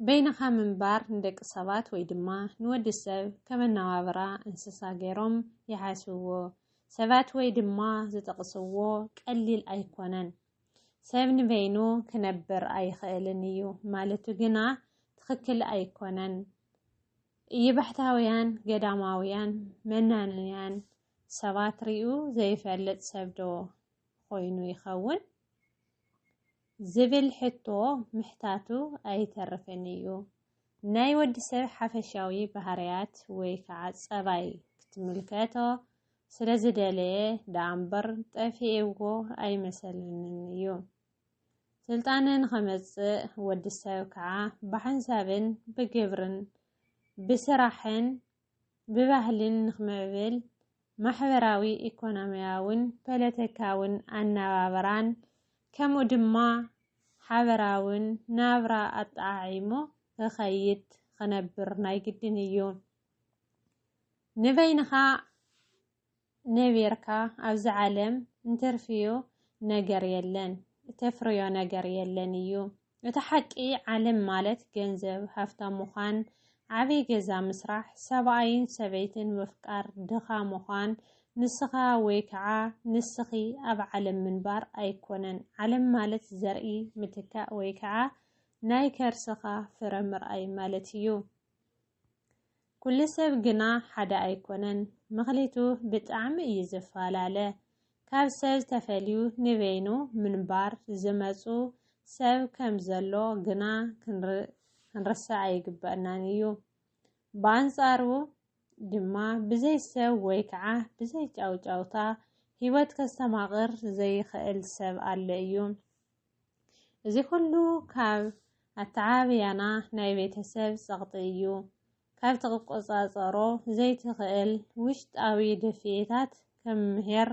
በይንኻ ምንባር ንደቂ ሰባት ወይ ድማ ንወዲ ሰብ ከመናባብራ እንስሳ ገይሮም ይሓስብዎ ሰባት ወይ ድማ ዝጠቕስዎ ቀሊል ኣይኮነን። ሰብ ንበይኑ ክነብር ኣይኽእልን እዩ ማለቱ ግና ትኽክል ኣይኮነን። እይባሕታውያን ገዳማውያን መናንያን ሰባት ሪኡ ዘይፈልጥ ሰብዶ ኮይኑ ይኸውን? ዝብል ሕቶ ምሕታቱ ኣይተርፍን እዩ። ናይ ወዲ ሰብ ሓፈሻዊ ባህርያት ወይ ከዓ ፀባይ ክትምልከቶ ስለ ዝደለየ ደኣ እምበር ጠፊኤዎ ኣይመሰለንን እዩ። ስልጣነ ንኸመፅእ ወዲ ሰብ ከዓ ብሓንሳብን ብግብርን ብስራሕን ብባህልን ንክምዕብል ማሕበራዊ ኢኮኖሚያውን ፐለተካውን ኣናባብራን ከምኡ ድማ ሓበራውን ናብራ ኣጠዓዒሙ ክኸይድ ክነብር ናይ ግድን እዩ። ንበይንኻ ነቢርካ ኣብዚ ዓለም እንትርፍዮ ነገር የለን እተፍርዮ ነገር የለን እዩ እቲ ሓቂ ዓለም ማለት ገንዘብ ሃፍታም ምዃን ዓብይ ገዛ ምስራሕ ሰብኣይን ሰበይትን ምፍቃር ድኻ ምዃን ንስኻ ወይ ከዓ ንስኺ ኣብ ዓለም ምንባር ኣይኮነን ዓለም ማለት ዘርኢ ምትካእ ወይ ከዓ ናይ ከርስኻ ፍረ ምርኣይ ማለት እዩ። ኩሉ ሰብ ግና ሓደ ኣይኮነን ምክሊቱ ብጣዕሚ እዩ ዝፋላለ ካብ ሰብ ተፈልዩ ንበይኑ ምንባር ዝመጹ ሰብ ከም ዘሎ ግና ክንርስዕ ኣይግበእናን እዩ ብኣንጻሩ ድማ ብዘይ ሰብ ወይ ከዓ ብዘይ ጫውጫውታ ሂወት ከስተማቅር ዘይክእል ሰብ ኣሎ እዩ እዚ ኩሉ ካብ ኣተዓባብያና ናይ ቤተሰብ ጸቕጢ እዩ። ካብ ትቆጻጸሮ ዘይትኽእል ውሽጣዊ ድፍኢታት ከም ምሄር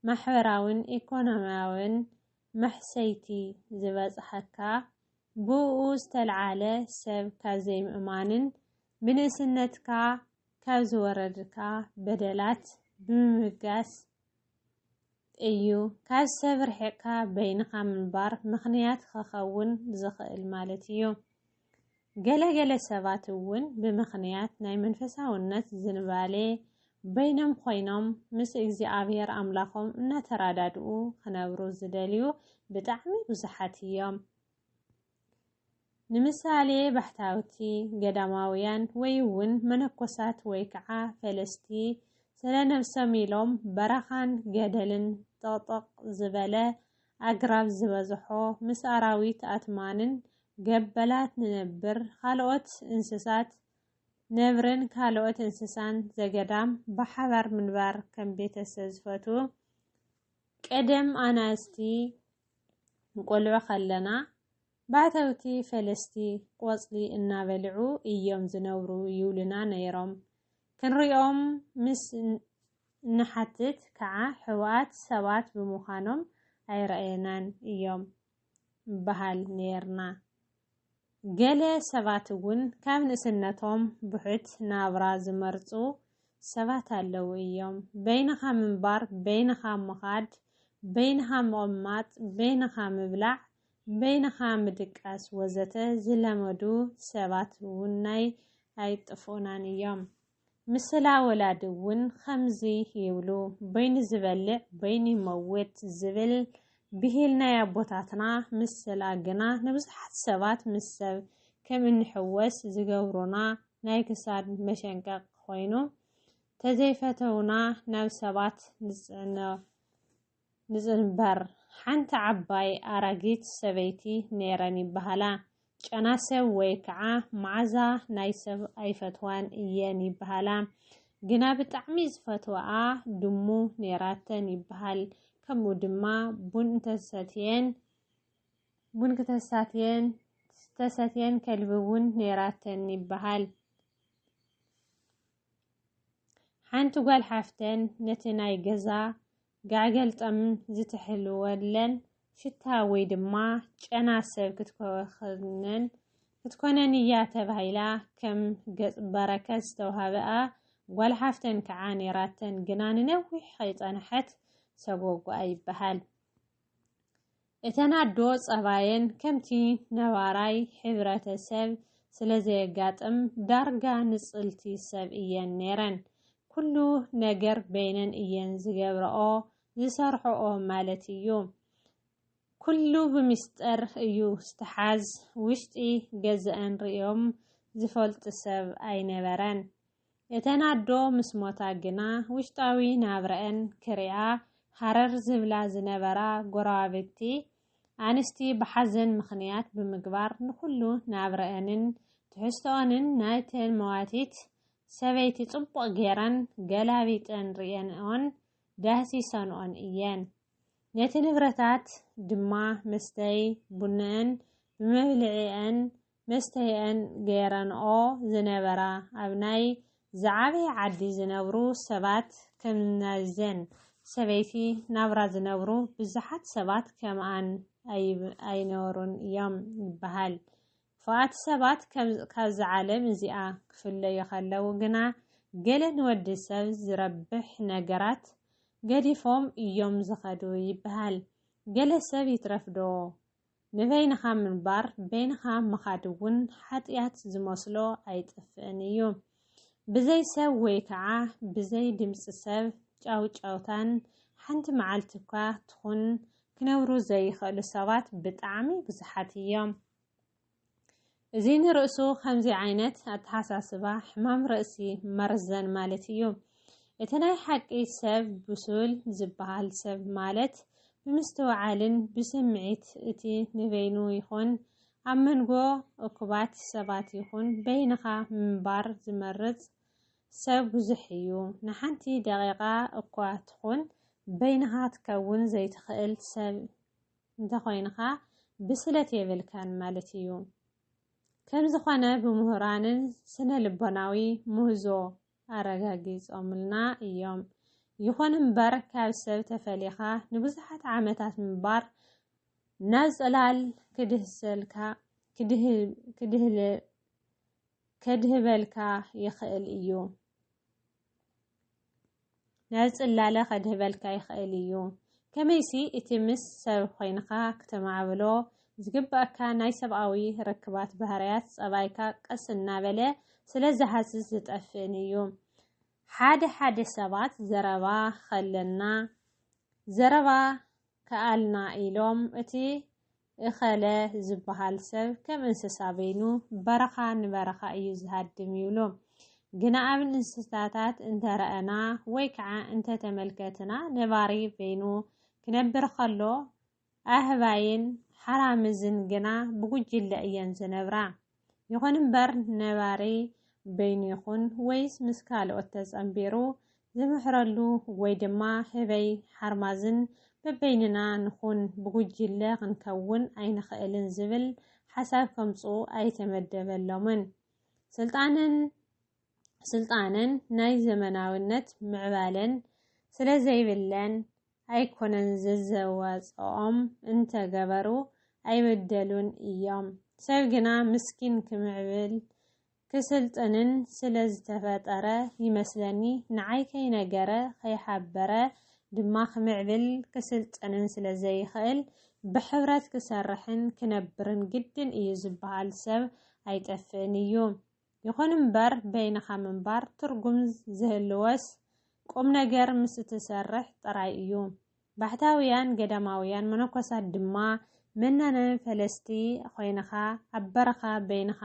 ማሕበራዊን ኢኮኖሚያዊን ማሕሰይቲ ዝበጽሓካ ብእኡ ዝተልዓለ ሰብ ካብ ዘይምእማንን ብንእስነትካ ካብ ዝወረድካ በደላት ብምብጋስ እዩ። ካብ ሰብ ርሒቕካ በይንኻ ምንባር ምኽንያት ኸኸውን ዝኽእል ማለት እዩ። ገለ ገለ ሰባት እውን ብምኽንያት ናይ መንፈሳውነት ዝንባሌ በይኖም ኮይኖም ምስ እግዚኣብሔር ኣምላኾም እናተራዳድኡ ክነብሩ ዝደልዩ ብጣዕሚ ብዙሓት እዮም። ንምሳሌ ባሕታውቲ፣ ገዳማውያን ወይ'ውን መነኮሳት ወይከዓ ፈለስቲ ስለ ነብሶም ኢሎም በረኻን ገደልን ጥቕጥቕ ዝበለ ኣግራብ ዝበዝሖ ምስ ኣራዊት ኣትማንን ገበላት ንነብር ኻልኦት እንስሳት ነብርን ካልኦት እንስሳን ዘገዳም ብሓባር ምንባር ከም ቤተሰ ዝፈትዉ ቀደም ኣናእስቲ እንቆልዑ ከለና ባሕተውቲ ፈለስቲ ቆጽሊ እናበልዑ እዮም ዝነብሩ ይብሉና ነይሮም። ክንሪኦም ምስ እንሓትት ከዓ ሕቡኣት ሰባት ብምዃኖም ኣይረኣዩናን እዮም ንበሃል ነይርና። ገለ ሰባት እውን ካብ ንእስነቶም ብሑት ናብራ ዝመርጹ ሰባት ኣለዉ እዮም። በይንኻ ምንባር፣ በይንኻ ምኻድ፣ በይንኻ ምቕማጥ፣ በይንኻ ምብላዕ፣ በይንኻ ምድቃስ ወዘተ ዝለመዱ ሰባት እውን ኣይጥፍኡናን እዮም። ምስላ ወላዲ እውን ኸምዚ ይብሉ፣ በይኑ ዝበልዕ በይኑ ይመውት ዝብል ብሂል ናይ ኣቦታትና ምስላ ግና ንብዙሓት ሰባት ምስ ሰብ ከም እንሕወስ ዝገብሩና ናይ ክሳድ መሸንቀቕ ኾይኑ ተዘይፈተውና ናብ ሰባት ንፅዕኖ ንዝንበር ሓንቲ ዓባይ ኣራጊት ሰበይቲ ነይረን ይበሃላ። ጨና ሰብ ወይ ከዓ መዓዛ ናይ ሰብ ኣይፈትዋን እየን ይበሃላ። ግና ብጣዕሚ ዝፈትወኣ ድሙ ነይራተን ይበሃል። ከምኡ ድማ ቡን እንተሰትየን ቡን ክተሳትየን ዝተሰትየን ከልቢ እውን ነይራተን ይበሃል። ሓንቲ ጓል ሓፍተን ነቲ ናይ ገዛ ጋዕገል ጠም ዝትሕልወለን ሽታ ወይ ድማ ጨና ሰብ ክትኮኸነን ክትኮነን እያ ተባሂላ ከም ገጽ በረከት ዝተዋህበኣ ጓል ሓፍተን ከዓ ነይራተን ግና ንነዊሕ ከይጸንሐት ሰጎጓኣ ይበሃል። እተን ኣዶ ጸባየን ከምቲ ነባራይ ሕብረተ ሰብ ስለ ዘየጋጥም ዳርጋ ንጽልቲ ሰብ እየን ነይረን። ኩሉ ነገር በይነን እየን ዝገብረኦ ዝሰርሕኦ ማለት እዩ። ኩሉ ብሚስጠር እዩ ዝተሓዝ ውሽጢ ገዘኣን ርእዮም ዝፈልጡ ሰብ ኣይነበረን። እተን ኣዶ ምስ ሞታ ግና ውሽጣዊ ናብረኣን ክሪኣ ሃረር ዝብላ ዝነበራ ጎረባብቲ ኣንስቲ ብሓዘን ምኽንያት ብምግባር ንኹሉ ናብረኣንን ትሕዝቶኣንን ናይተን መዋቲት ሰበይቲ ጽቡቕ ጌረን ገላቢጠን ርእየንኦን ዳህሲሰንኦን እየን። ነቲ ንብረታት ድማ መስተይ ቡነኣን ብመብልዒኣን መስተይኣን ገይረንኦ ዝነበራ ኣብ ናይ ዝዓበየ ዓዲ ዝነብሩ ሰባት ከም ናይዘን ሰበይቲ ናብራ ዝነብሩ ብዙሓት ሰባት ከምኣን ኣይነበሩን እዮም ይበሃል። ክፉኣት ሰባት ካብዚ ዓለም እዚኣ ክፍለዩ ከለዉ ግና ገለ ንወዲ ሰብ ዝረብሕ ነገራት ገዲፎም እዮም ዝኸዱ ይበሃል። ገለ ሰብ ይትረፍዶ ንበይንኻ ምንባር በይንኻ ምኻድ እውን ሓጢኣት ዝመስሎ ኣይጥፍእን እዩ። ብዘይ ሰብ ወይ ከዓ ብዘይ ድምፂ ሰብ ጫውጫውታን ሓንቲ መዓልቲ እኳ ትኹን ክነብሩ ዘይኽእሉ ሰባት ብጣዕሚ ብዙሓት እዮም። እዚ ንርእሱ ከምዚ ዓይነት ኣተሓሳስባ ሕማም ርእሲ መርዘን ማለት እዩ። እቲ ናይ ሓቂ ሰብ ብሱል ዝበሃል ሰብ ማለት ብምስትውዓልን ብስምዒት እቲ ንበይኑ ይኹን ኣብ መንጎ እኩባት ሰባት ይኹን በይንኻ ምንባር ዝመርጽ ሰብ ብዙሕ እዩ። ንሓንቲ ደቂቓ እኳ ትኹን በይንኻ ትከውን ዘይትኽእል ሰብ እንተኾይንኻ ብስለት የብልካን ማለት እዩ። ከምዝኾነ ብምሁራንን ስነ ልቦናዊ ምህዞ ኣረጋጊጾምልና እዮም። ይኹን እምበር ካብ ሰብ ተፈሊኻ ንብዙሓት ዓመታት ምንባር ናብ ጽላል ክድህሰልካ ክድህል ከድህበልካ ይኽእል እዩ። ናብ ጽላለ ከድህበልካ ይኽእል እዩ። ከመይሲ እቲ ምስ ሰብ ኮይንካ ክተማዕብሎ ዝግብኣካ ናይ ሰብኣዊ ርክባት ባህርያት ጸባይካ ቀስ እናበለ ስለ ዝሃስስ ዝጠፍእን እዩ። ሓደ ሓደ ሰባት ዘረባ ከለና ዘረባ ከኣልና ኢሎም እቲ እኸለ ዝበሃል ሰብ ከም እንስሳ በይኑ በረኻ ንበረኻ እዩ ዝሃድም ይብሉ። ግና ኣብ እንስሳታት እንተረኣና ወይ ከዓ እንተተመልከትና ነባሪ በይኑ ክነብር ከሎ ኣህባይን ሓራምዝን ግና ብጉጅለ እየን ዝነብራ። ይኹን እምበር ነባሪ በይኑ ይኹን ወይስ ምስ ካልኦት ተጸንቢሩ ዝምሕረሉ ወይ ድማ ህበይ ሓርማዝን በበይንና ንኹን ብጉጅለ ክንከውን ኣይንኽእልን ዝብል ሓሳብ ከምጽኡ ኣይተመደበሎምን። ስልጣንን ስልጣንን ናይ ዘመናዊነት ምዕባለን ስለ ዘይብለን ኣይኮነን ዘዘዋጽኦም እንተ ገበሩ ኣይበደሉን እዮም ሰብ ግና ምስኪን ክምዕብል ክስልጥንን ስለ ዝተፈጠረ ይመስለኒ ንዓይ ከይነገረ ከይሓበረ ድማ ክምዕብል ክስልጥንን ስለ ዘይክእል ብሕብረት ክሰርሕን ክነብርን ግድን እዩ ዝበሃል ሰብ ኣይጠፍእን እዩ። ይኹን እምበር በይንኻ ምንባር ትርጉም ዝህልዎስ ቁምነገር ምስ እትሰርሕ ጥራይ እዩ። ባሕታውያን ገዳማውያን መነኮሳት ድማ መናነ ፈለስቲ ኾይንኻ ኣብ በረኻ በይንኻ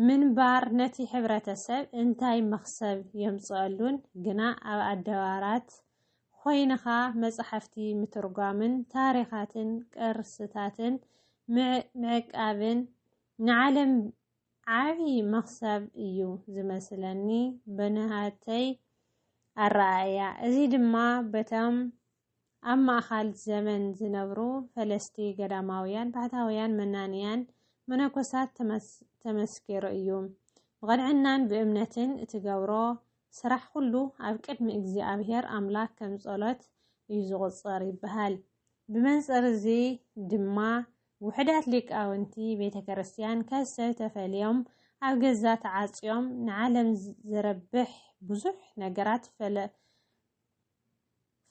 ምንባር ነቲ ሕብረተሰብ እንታይ መኽሰብ የምጽኣሉን ግና ኣብ ኣደባራት ኾይንኻ መጻሕፍቲ ምትርጓምን ታሪኻትን ቅርስታትን ምዕቃብን ንዓለም ዓቢ መኽሰብ እዩ ዝመስለኒ ብናሃተይ ኣረኣእያ። እዚ ድማ በቶም ኣብ ማእኻል ዘመን ዝነብሩ ፈለስቲ ገዳማውያን፣ ባሕታውያን፣ መናንያን፣ መነኮሳት ተመስኪሩ እዩ። ብቐንዕናን ብእምነትን እትገብሮ ስራሕ ኩሉ ኣብ ቅድሚ እግዚኣብሔር ኣምላክ ከም ጸሎት እዩ ዝቑጸር ይበሃል። ብመንጽር እዚ ድማ ውሑዳት ሊቃውንቲ ቤተ ክርስቲያን ካብ ሰብ ተፈልዮም ኣብ ገዛ ተዓጽዮም ንዓለም ዝረብሕ ብዙሕ ነገራት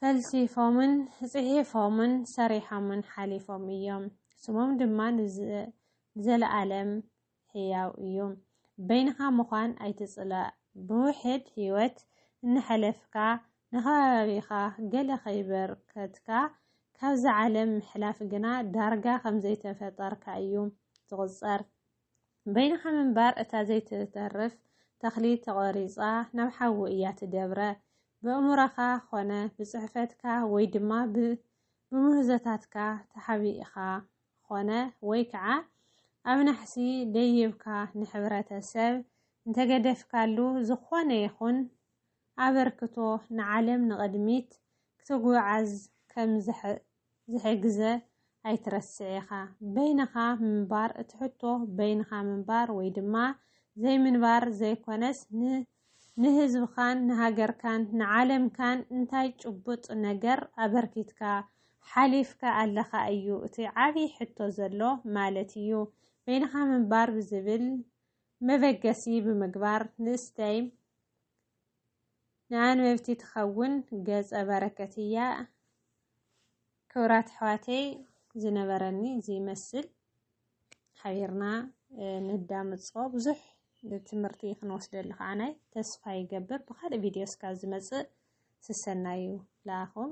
ፈልሲፎምን ጽሒፎምን ሰሪሖምን ሓሊፎም እዮም። ስሞም ድማ ንዘለኣለም ሕያው እዩ። በይንኻ ምዃን ኣይትጽላእ። ብውሕድ ህይወት እናሐለፍካ ንኸባቢኻ ገለ ከይበርከትካ ካብዛ ዓለም ምሕላፍ ግና ዳርጋ ከም ዘይተፈጠርካ እዩ ዝቑጸር። በይንኻ ምንባር እታ ዘይትተርፍ ተኽሊ ተቖሪጻ ናብ ሓዊ እያ ትደብረ። ብእምሮኻ ኾነ ብጽሕፈትካ ወይ ድማ ብምህዞታትካ ተሓቢእኻ ኾነ ወይ ከዓ ኣብ ናሕሲ ደይብካ ንሕብረተሰብ እንተገደፍካሉ ዝኾነ ይኹን ኣበርክቶ ንዓለም ንቕድሚት ክትጉዓዝ ከም ዝሕግዘ ኣይትረስዕ ኢኻ። በይንኻ ምንባር እቲ ሕቶ በይንኻ ምንባር ወይ ድማ ዘይምንባር ዘይኮነስ ን ንህዝብኻን ንሃገርካን ንዓለምካን እንታይ ጭቡጥ ነገር ኣበርኪትካ ሓሊፍካ ኣለኻ እዩ እቲ ዓብዪ ሕቶ ዘሎ ማለት እዩ። በይንኻ ምንባር ብዝብል መበገሲ ብምግባር ንእስተይ ንኣንበብቲ ትኸውን ገፀ በረከት እያ። ክብራት ኣሕዋተይ ዝነበረኒ ዝይመስል ሓቢርና ንዳምፆ ብዙሕ ትምህርቲ ክንወስደሉ ከዓ ናይ ተስፋ ይገብር ብካልእ ቪድዮ እስካ ዝመፅእ ስሰናዩ ለኣኹም